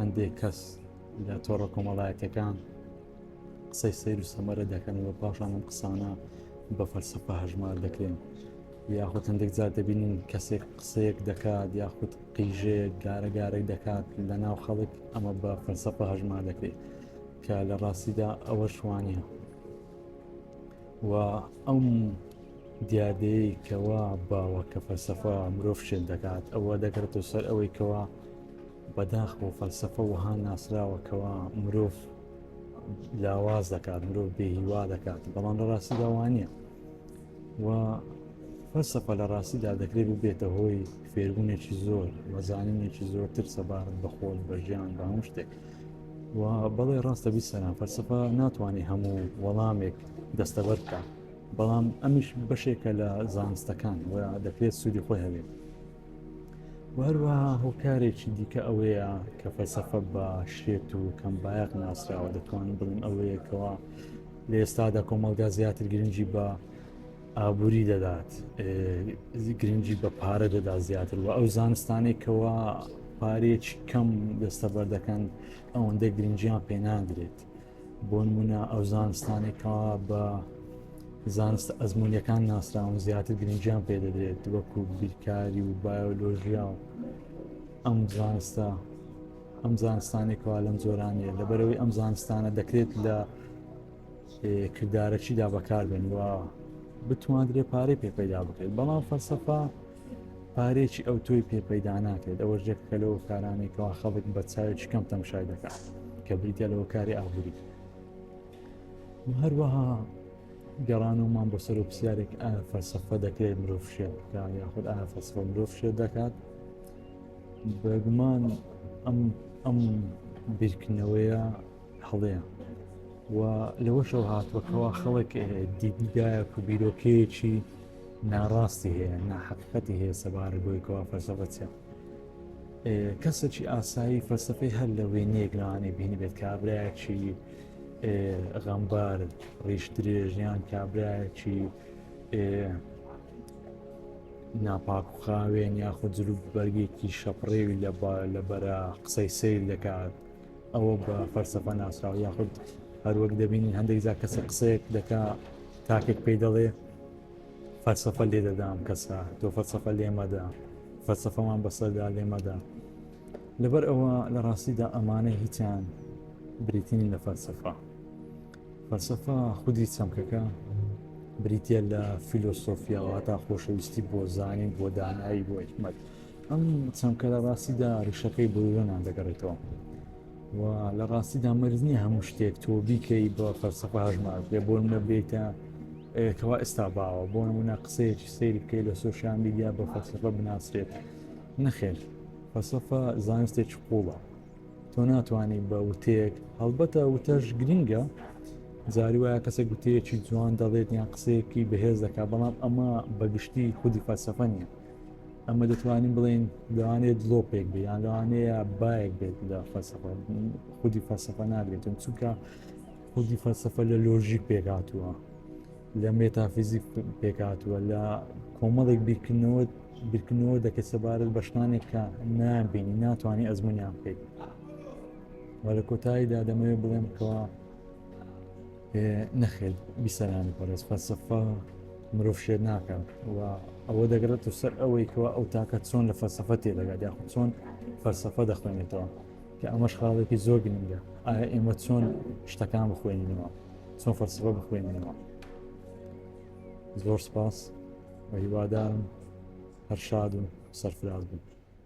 هەندێک کەس لە تۆڕە کۆمەڵایەتەکان قسەی سیر و سەمەرە دەکەنەوە پاشان ئەم قسانە بە فەلسفە هەژمار دەکرێن یاخود هەندێک جار دەبینین کەسێک قسەیەک دەکات یاخود قیژەیەک گارە گارەی دەکات لە ناو خەڵک ئەمە بە فەلسفە هەژمار دەکرێت کە لە ڕاستیدا ئەوە شوانە و ئەم دیادەیە کەوا باوە کە فەلسفە مرۆڤ شێن دەکات ئەوە دەکرێتەوە سەر ئەوەی کەوا بەداخ بۆ فەلسەفە وەها ناسراوە کەوا مرۆڤ لاواز دەکات مرۆڤ بێهیوا دەکات بەڵام لە ڕاستیدا وانە و فەلسەفە لە ڕاستیدا دەکرێت ببێتە هۆی فێربوونێکی زۆر وەزانینێکی زۆرتر سەبارەت بە خۆل بە ژیان بە هەموو شتێک و بەڵێ ڕاستە بیسەران فەلسەفە ناتوانێت هەموو وەڵامێک دەستەبەر بکات بەڵام ئەمیش بەشێکە لە زانستەکان و دەکرێت سوودی خۆی هەبێت و هەروەها هۆکارێکی دیکە ئەوەیە کە فەلسەفە بە شێت و کەم بایەق ناسراوە دەتوانم بڵێم ئەوەیەکەوە لە ئێستادا کۆمەلگا زیاتر گرنگی بە ئابووری دەدات گرنگی بە پارە دەدا زیاتر و ئەو زانستانێکەوە پارێکی کەم دەستەبەر دەکەن ئەوەندە گرنجیان پێناندرێت. بۆ نمونە ئەو زانستانێک کا بە زانستە ئەزمموونیەکان ناسراون زیاتر گرنجیان پێدەدرێت وەکو بیرکاری و بایۆلۆژیا و ئەم زانستە ئەم زانستانێکەوە لەم زۆرانەیە لەبەرەوەی ئەم زانستانە دەکرێت لە کردارەکیدا بەکاربێن و بتواندرێ پارەی پێ پەیدا بکرێت بەڵام فەلسەفا پارەیەکی ئەوتۆی پێ پەیدا ناکرێت ئەوە جێکە لەوە کارانەی کەوا خەڵک بە چاوێکی کەم تەمشای دەکات کە بریتە لەوە کاری ئابووری هەروەها گەڕانەوەمان بۆ سەر و پرسیارێک ئایا فەلسەفە دەکرێت مرۆڤ شێت بکات یاخود ئایا فەلسفە مرۆڤ شێت دەکات بەگومان ئەم ئەم بیرکردنەوەیە هەڵەیە و لەوەشەوە هاتووە کەوا خەڵک دیدگایەک و بیرۆکەیەکی ناڕاستی هەیە ناحقیقەتی هەیە سەبارە بۆیکەوە فەرزەڵە چێت کەسێکی ئاسایی فەلسفەی هەر لە وێنەیەک لەوانێ بینی بێت کابراایکی غەمبار ڕیش درێژیان کابراایکی ناپاک و خاوێن یاخود جلو بەرگێکی شەپڕێوی لە لە بەرە قسەی سیر دەکات ئەوە بە فەلسەفە ناسراوە یاخود هەروەک دەبینین هەندێک جا کەسە قسەیەک دەکا تاکێک پێی دەڵێ فەلسەفە لێ دەدام کەسە تۆ فەلسەفە لێمەدا فەلسەفەمان بەسەردا لێمەدا لەبەر ئەوە لە ڕاستیدا ئەمانە هیچیان بریتنی لە فەلسەفە فەلسەفە خودی چەمکەکە بریتە لە فیلۆسۆفیاوە تا خۆشەویستی بۆ زانین بۆ دانایی بۆ حکمت ئەم چەمکە لە ڕاستیدا ڕیشەکەی بۆ یۆنان دەگەڕێتەوە و لە ڕاستیدا مەرز نییە هەموو شتێک تۆ بیکەی بە فەرسەفە هەژمار بێ بۆ منە بێتە کەوا ئێستا باوە بۆ نمونە قسەیەکی سیر بکەیت لە سوۆشیان میدیا بە فەرسەفە بناسرێت نەخێر فەسەفە زانستێکی قوڵە تۆ ناتوانانی بە وتەیەک هەڵبەتە وتەش گرنگە جاری وایە کەسێک گوتەیەکی جوان دەڵێت یان قسەیەکی بەهێز دەکات بەڵام ئەمە بەگشتی خودی فەلسەفە نیە ئەمە دەتوانین بڵین لەوانەیە دڵۆپێک بێ یان لەوانەیە بایەک بێت لە فەسەفە خودی فەسەفە ناگرێتن چونکە خودی فەسەفە لە لۆژیک پێکاتووە لە مێتافیزیک پێکاتووە لە کۆمەڵێک بیرکردنەوە بیرکردنەوە دەکە سەبارەت بە شتانێک کە نابینی ناتوانانی ئەزمونیان بکەیت وە لە کۆتاییدا دەمەوێت بڵێم کەەوە نەخێر بیسەرانی پەرست فەلسەفە مرۆڤ شێت ناکەن و ئەوە دەگرێت و سەر ئەوەی کەوا ئەو تاکە چۆن لە فەلسەفە تێدەگات یاخ چۆن فەلسەفە دەخوێنێتەوە کە ئەمەش خاڵێکی زۆر گرنگە ئایا ئێمە چۆن شتەکان بخوێنینەوە چۆن فەلسەفە بخوێنینەوە زۆر سپاس و هیوادارم هەر شاد و سەرفراز بن